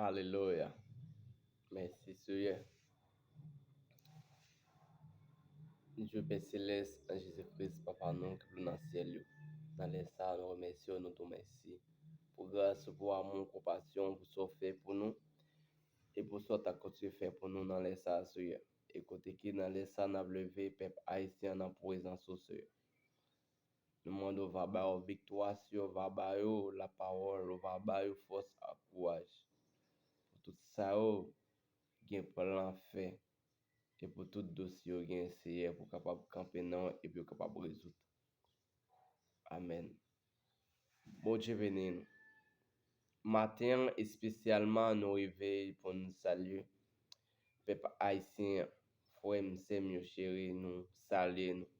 Alelouya mèsi seyè nou jwe pè selès nan jezi kris papa nou ki nan syèl yo nan lè sa nou remèsye w nou di w mèsi pou gras ou pou amou ou konpasyon pou sa w fè pou nou e pou sa w ta kontinye fè pou nou nan lè sa seyè e kote ki nan lè sa n ap leve pèp ayisyen an nan prezans ou seyè Nou mande w va ba yo viktwa si yo va ba yo lapawòl ou va ba yo fòs ak kouraj pou tout sa yo gen plan fè e pou tout dosye yo gen Seyè pou kapab kanpe nan e pou yo kapab rezoud Amèn Bondye beni nou. Maten an espesyalman nou rive pou n salye pèp ayisyen an. Frè m, sè m yo cheri, nou salye nou.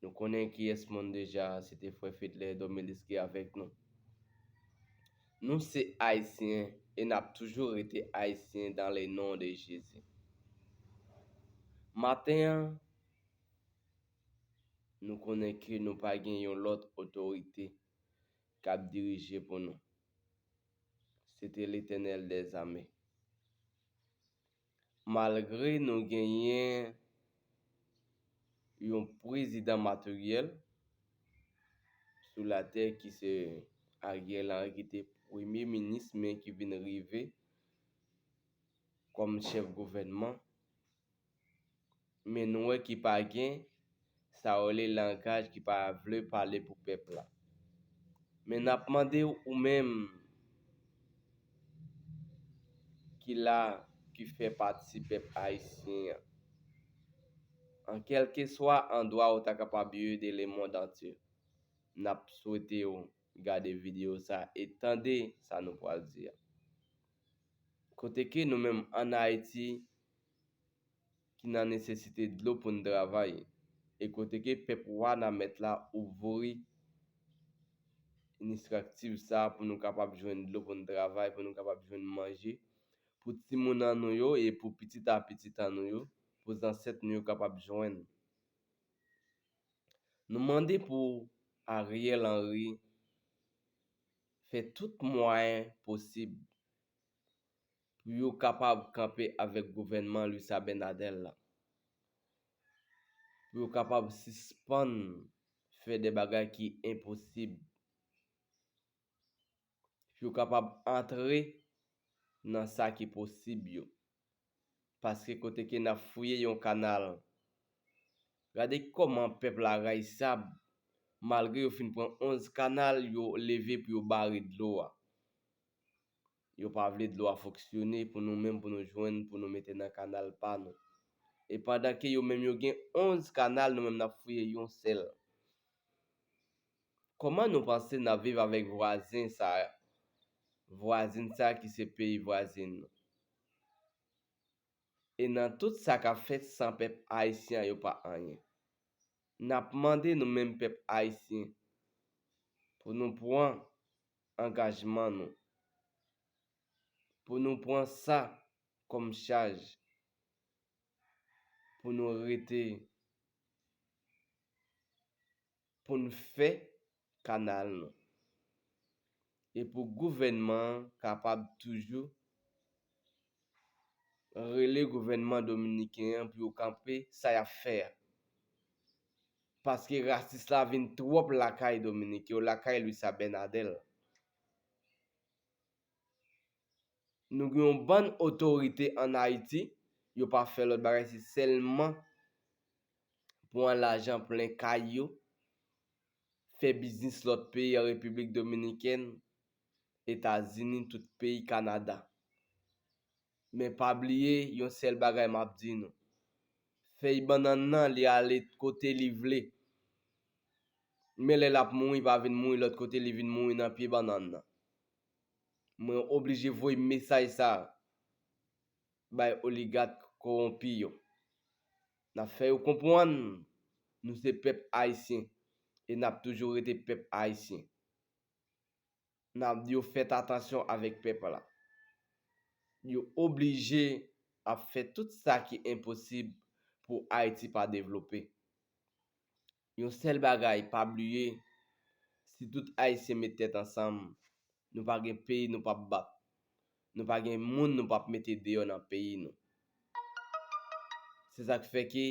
Nou konnen kiyès moun deja, se te frè Fedlè Domelis ki avèk nou. Nou se ayisyen e n ap toujou rete ayisyen dan le non de Jezi. Maten an, nou konnen ke nou pa gen yon lòt otorite K'ap dirije pou nou. Se te Letènèl dè zame. Malgre nou genyen yon prezidan materyèl sou latè ki se Ariel Henry ki te premye minis men ki vin rive kòm chèf gouvènman. men nou wè ki pa gen sa yo rele langaj ki pa vle pale pou pèp la. Men nap mande ou menm ki la ki fè pati pèp ayisyen an, an kèlkeswa andwa ou ta kapab ye de le mond antye, nap swete ou gade video sa e tande sa nou pwal di a. Kote ke nou menm an Ayiti. ki nan nesesite dlo pou n travay e kote ke pèp wanament la ouvri inistriktiv sa pou nou kapab jwenn dlo pou n travay pou nou kapab jwenn manje pou timoun an nou yo e pou pitit a pitit an nou yo pou zansèt nou yo kapab jwenn. Nou mande pou Ariel Henry fè tout mwayen posib pou yo kapab kanpe avèk gouvènman Luis Abinader la, pou yo kapab sispann fè de bagay ki enposib, pou yo kapab antre nan sa ki posib yo. Paske kote ke n ap fouye yon kanal, gade kòman pèp la rayisab, malgre yo fin pran 11 kanal, yo leve pou yo bare dlo a. Yo pa vle dlo a fonksyone pou nou menm pou nou jwenn pou nou mete nan kanal pa nou. E pandan ke yo menm yo gen 11 kanal nou menm nap fouye yon sèl. Koman nou panse nap viv avèk vwazen sa vwazin sa ki se peyi vwazin nou. E nan tout sa kap fèt san pèp ayisyen an yo pa anyen. Nap mande nou menm pèp ayisyen pou nou pwan angajman nou, pou nou pran sa kòm chaj pou nou rete pou n fè kanal nou e pou gouvènman an kapab toujou rele gouvènman dominiken an pou yo kanpe sa y ap fè a. Paske rasis la vin twòp lakay Dominik yo, lakay Luis Abinadel. Nou gen yon bann otorite an Ayiti, yo pa fè lòt bagay se sèlman pwan lajan plen kay yo, fè biznis lòt peyi an Repiblik Dominikèn, Etazini, tout peyi Kanada. Men pa bliye yon sèl bagay map di nou. Fèy bannann nan li ale kote li vle. Men lè lap mouri pa vin mouri lòt kote li vin mouri nan pye bannann nan. Mwen oblije voye mesaj sa bay oligat kowonpi yo. Nap fè yo konpwann nou se pèp ayisyen e nap toujou rete pèp ayisyen. Nap di yo fèt atansyon avèk pèp la. Yo oblije ap fè tout sa ki enposib pou Ayiti pa devlope. Yon sèl bagay pa bliye si tout Ayisyen met tèt ansanm nou pa gen peyi nou pap bat. Nou pa gen moun nou pap mete deyò nan peyi nou. Se sak fè ke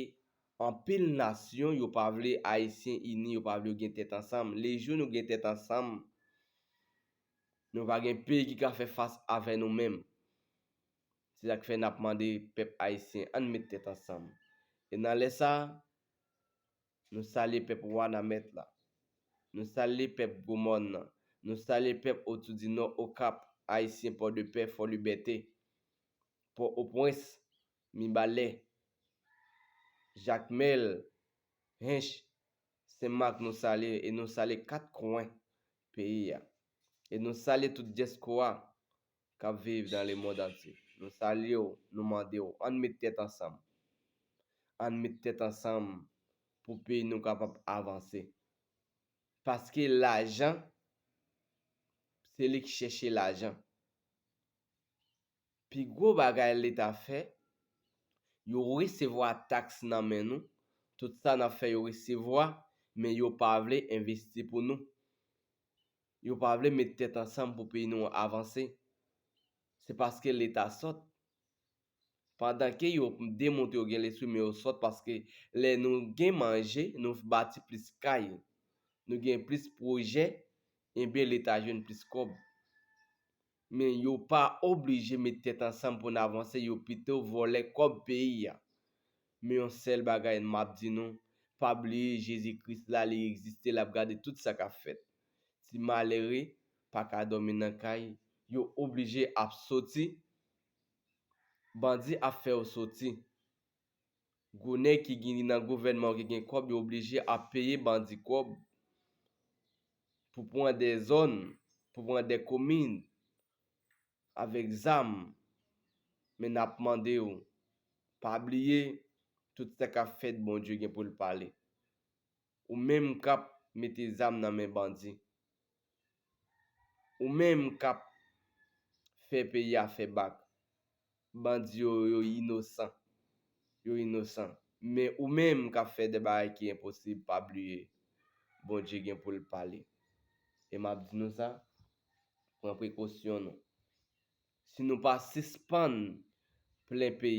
anpil nasyon yo pa vle ayisyen ini yo pa vle yo gen tèt ansanm le jou nou gen tèt ansanm nou va gen peyi ki ka fè fas avè nou menm se sak fè nap mande pèp ayisyen ann met tèt ansanm e nan lè sa Nou salye pèp Wanament la. Nou salye pèp Gwo Mòn nan. Nou salye pèp Otoudinò, Okap, Ayisyen Pòdepè, Fòlibète, Pò Opwens, Mibalè, Jakmèl, Hench, Sen Mak nou salye e nou salye kat kwen peyi a. E nou salye tout dyaspora k ap viv nan lemond antye, nou salye w, nou mande w ann met tèt ansanm. Ann met tèt ansanm pou peyi nou kapab avanse. Paske lajan, se li k chèche lajan. Pi gwo bagay leta fè, yo resevwa taks nan men nou, tout sa n ap fè yo resevwa, men yo pa vle envesti pou nou. Yo pa vle met tèt ansanm pou peyi nou an avanse. Se paske leta sòt. Pandan ke yo demontre yo gen lespri men yo sòt paske lè nou gen manje nou bati plis kay, nou gen plis pwojè enben leta jwenn plis kòb. Men yo pa oblije met tèt ansanm pou n avanse yo pito vòlè kòb peyi a. Men yon sèl bagay map di nou pa bliye Jezi Kris la li egziste lap gade tout sa kap fèt. Ti malere pa ka dòmi nan kay yo oblije ap soti bandi ap fè yo soti. Gwo nèg ki gini nan gouvènman ki gen kòb yo oblije ap peye bandi kòb pou pran de zòn, pou pran de komin avèk zam men n ap mande w pa bliye tout sa k ap fèt Bondye gen pou l pale. Ou menm k ap mete zam nan men bandi Ou menm kap Fe peyi a fe bak. Bandi yo yo inosan. Yo inosan. Men ou menm kap fe de bagay ki enposib pa bliye Bondye gen poul pale. E map di nou sa, pran prekosyon nou. Si nou pa sispann plen peyi.